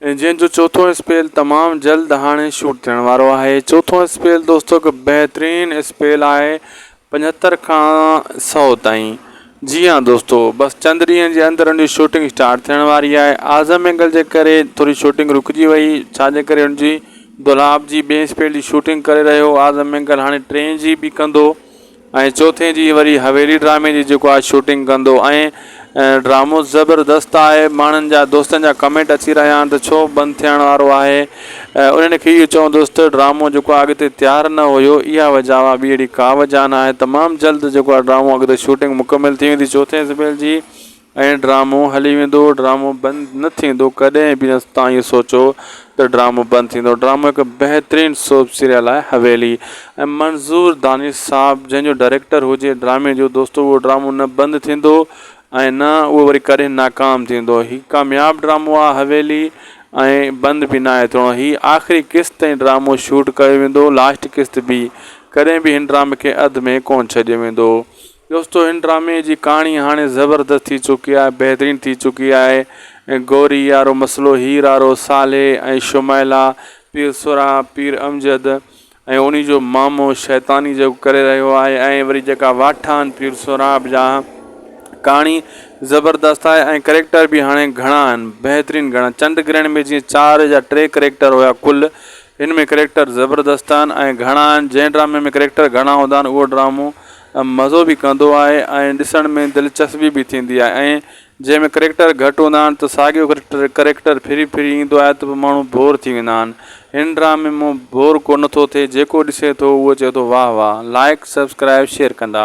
جنهن جو چوٿون اسپيل تمام جلد هاڻي شوٽ ٿيڻ وارو آهي چوٿون اسپيل دوستو هڪ بهترين اسپيل آهي پنجهتر کان سؤ تائين جي هان دوستو بس چند ڏينهن جي اندر ان جي شوٽنگ اسٽارٽ ٿيڻ واري آهي اعظم اينگل جي ڪري ٿوري شوٽنگ رڪجي وئي ڇا جي ڪري ان جي دولاب جي ٻئي اسپيل جي شوٽنگ ڪري رهيو اعظم اينگل هاڻي ٽئين جي به ڪندو ۽ چوٿين جي وري حويلي ڊرامي جي جيڪو آج شوٽنگ ڪندو ۽ ڊرامو زبردست آهي ماڻهن جا دوستن جا ڪمينٽ اچي رهيا آهن ته ڇو بند ٿيڻ وارو آهي انهن کي اهو چوندس ته ڊرامو جيڪو آهي اڳتي تيار نه هيو اها وجهه آهي ٻي اهڙي ڪا وجهه نه آهي تمام جلد جيڪو آهي ڊرامو اڳتي شوٽنگ مڪمل ٿي ويندي چوٿين زبيل جي ائين ڊرامو هلي ويندو ڊرامو بند نه ٿيندو ڪڏهن به نه توهان اهو سوچو ته ڊرامو بند ٿيندو ڊرامو هڪ بهترين سوپ سيريل آهي حويلي ۽ منظور دانش صاحب جنهن جو ڊائريڪٽر هجي ڊرامي جو دوستو اهو ڊرامو نه بند ٿيندو ۽ نه اهو وري ڪڏهن ناڪام ٿيندو هي ڪامياب ڊرامو آهي حويلي ۽ بند به ناهي ٿيڻو هي آخري قسط تائين ڊرامو شوٽ ڪيو ويندو لاسٽ قسط به ڪڏهن به هن ڊرامي کي اڌ ۾ ڪون ڇڏيو ويندو. دوستو هن ڊرامي جي ڪهاڻي هاڻي زبردست ٿي چڪي آهي بهترين ٿي چڪي آهي گوري يارو مسئلو هير آرو صالح ۽ شمائلا پير سرها پير امجد ۽ انهي جو مامو شيطاني جيڪو ڪري رهيو آهي ۽ وري جيڪا واٺا آهن پير سهراب جا ڪهاڻي زبردست آهي ۽ ڪريڪٽر به هاڻي گهڻا آهن بهترين گهڻا چنڊ گرهڻ ۾ جيئن چار جا ٽي ڪريڪٽر هيا ڪل هن ۾ ڪريڪٽر زبردست آهن ۽ گهڻا آهن جنهن ڊرامي ۾ ڪريڪٽر گهڻا هوندا آهن اهو ڊرامو مزو به ڪندو آهي ۽ ڏسڻ ۾ دلچسبي به ٿيندي آهي ۽ جنهن ۾ ڪريڪٽر گهٽ هوندا آهن ته ساڳيو ڪريڪٽر ڦري ڦري ايندو آهي ته پوء ماڻهو بور ٿي ويندا آهن هن ڊرامي مون بور ڪو نٿو ٿئي جيڪو ڏسي ٿو اهو چئي ٿو واهه واهه لائيڪ سبسڪرائيب شيئر ڪندا.